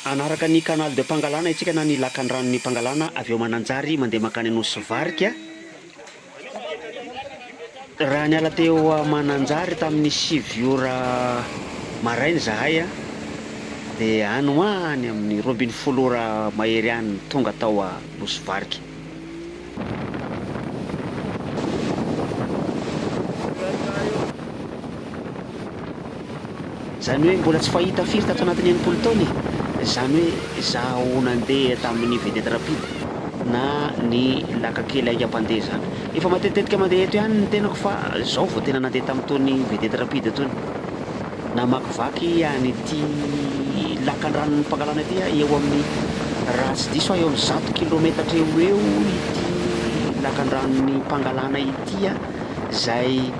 Hanaraka ny Canal de Pangalana isika na ny Lakandranon'i Pangalana avy ao Mananjary mandeha mankany Anosivarika. Raha niala teo Mananjary tamin'ny sivy ora maraina izahay dia any ho any amin'ny roa ambin'ny folo ora mahery any tonga tao Anosivarika. Izany hoe mbola tsy fahita firy tato anatin'ny enimpolo taona e! Izany hoe izaho nandeha tamin'ny vedette rapide na ny laka kely haingam-pandeha izany. Efa matetitetika mandeha eto ihany ny tenako fa izao vao tena nandeha tamin'itony vedette rapide itony. Namakivaky an' ity lakan-dranon' ny Pangalana ity aho, eo amin' ny, raha tsy diso aho, eo amin' ny zato kilaometatra eo ho eo ity lakan-dranon' ny Pangalana ity, izay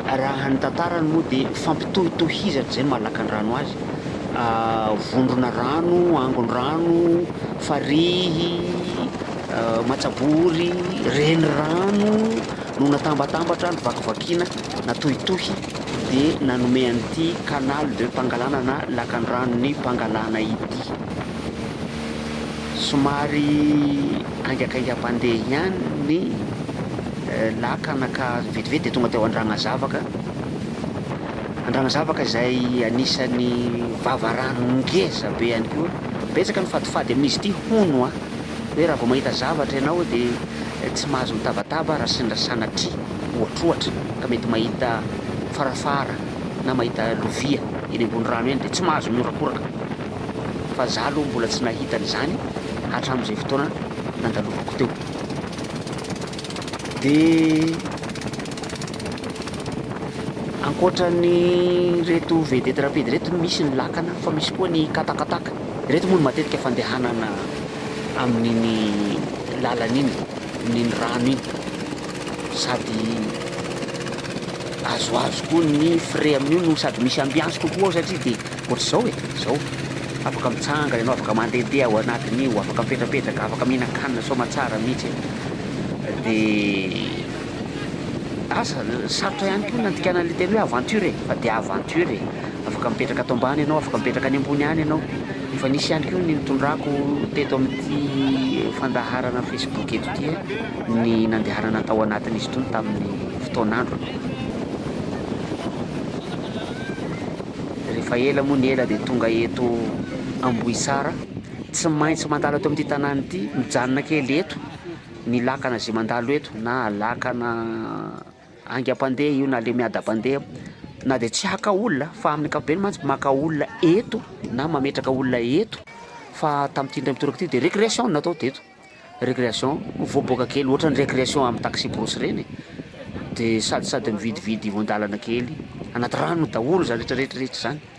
raha ny tantarany moa dia fampitohitohizana izay ny maha lakan-drano azy, vondrona rano, angon-drano, farihy, matsabory, renirano no natambatambatra, novakivakiana, natohitohy. dia nanome an'ity canal de Pangalana na lakandranon'i Pangalana ity. Somary haingakaingam-pandeha ihany ny lakana ka vetivety dia tonga teo Andragnazavaka, Andragnazavaka izay anisan'ny vavarano ngeza be ihany koa, betsaka ny fadifady amin'izy ity hono a! hoe raha vao mahita zavatra ianao dia tsy mahazo mitabataba raha sendra sanatria ohatrohatra ka mety mahita farafara na mahita lovia eny ambony rano eny dia tsy mahazo mihorakoraka fa za aloha mbola tsy nahita an'izany hatramin'izay fotoana nandalovako teo dia ankoatra ny reto vedety rapide reto misy ny lakana fa misy koa ny katakataka reto moa ny matetika fandehanana amin'iny lalana iny, amin'iny rano iny, sady azoazo koa ny frais amin'io no sady misy ambiance kokoa ao satria dia ohatr'izao e, izao, afaka mitsanga ianao, afaka mandehandeha ao anatin'io, afaka mipetrapetraka, afaka mihinan-kanina soamatsara mihitsy e! dia asa sarotra ihany koa ny nandikana an'ilay teny hoe aventure e, fa dia aventure e! afaka mipetraka ato ambany ianao, afaka mipetraka any ambony any ianao. Efa nisy ihany koa ny nitondrako teto amin'ity fandaharana Facebook eto ity ny nandehanana tao anatin'izy itony tamin'ny fotoan'androny. Rehefa ela moa ny ela dia tonga eto Ambohitsara. Tsy maintsy mandalo eto amin'ity tanàna ity, mijanona kely eto, ny lakana izay mandalo eto na lakana Haingam-pandeha io na lemiadam-pandeha na dia tsy haka olona fa amin'ny ankapobeny mantsy maka olona eto na mametraka olona eto fa tamin'ity indray mitoraka ity dia récréation no natao teto. Récréation, mivoaboaka kely ohatran'ny récréation amin'ny taxi-brousse ireny e. Dia sady sady mividividy ivon-dalana kely, anaty rano daholo izany rehetra rehetra rehetra izany.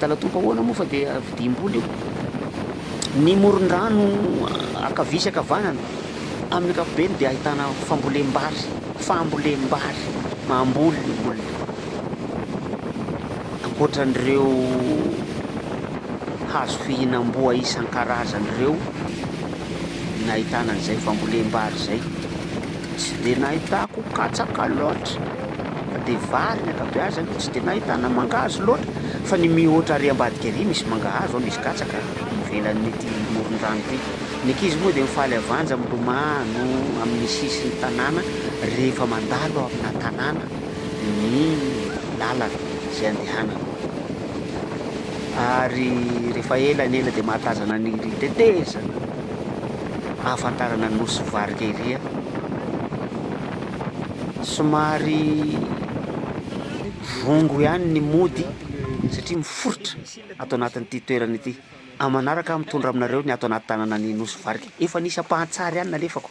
Dalatompo ahoana moa fa dia vidiam-bola io? Ny moron-drano ankavia sy ankavanana, amin'ny ankapobeny dia ahitana fambolem-bary, fambolem-bary, mamboly ny olona, ankoatra an'ireo hazo fihinam-boa isan-karazany ireo, nahitana an'izay fambolem-bary izay. Tsy dia nahitako katsaka loatra fa dia vary ny ankabeazany, tsy dia nahitana mangahazo loatra fa ny mihoatra ary ambadika ary misy mangahazo ao, misy katsaka ivelan'ity moron-drano ity. Ny ankizy moa dia mifaly havanja milomano amin'ny sisin'ny tanàna rehefa mandalo amina tanàna ny lalana izay andehanana ary rehefa ela ny ela dia mahatazana ny tetezana. ahafantarana nosy varika ery a! Somary vongo ihany ny mody satria miforitra ato anatin'ity toerana ity. Amin'ny manaraka aho mitondra aminareo ny ato anaty tanana ny nosy varika. Efa nisy ampahan-tsary ihany nalefako.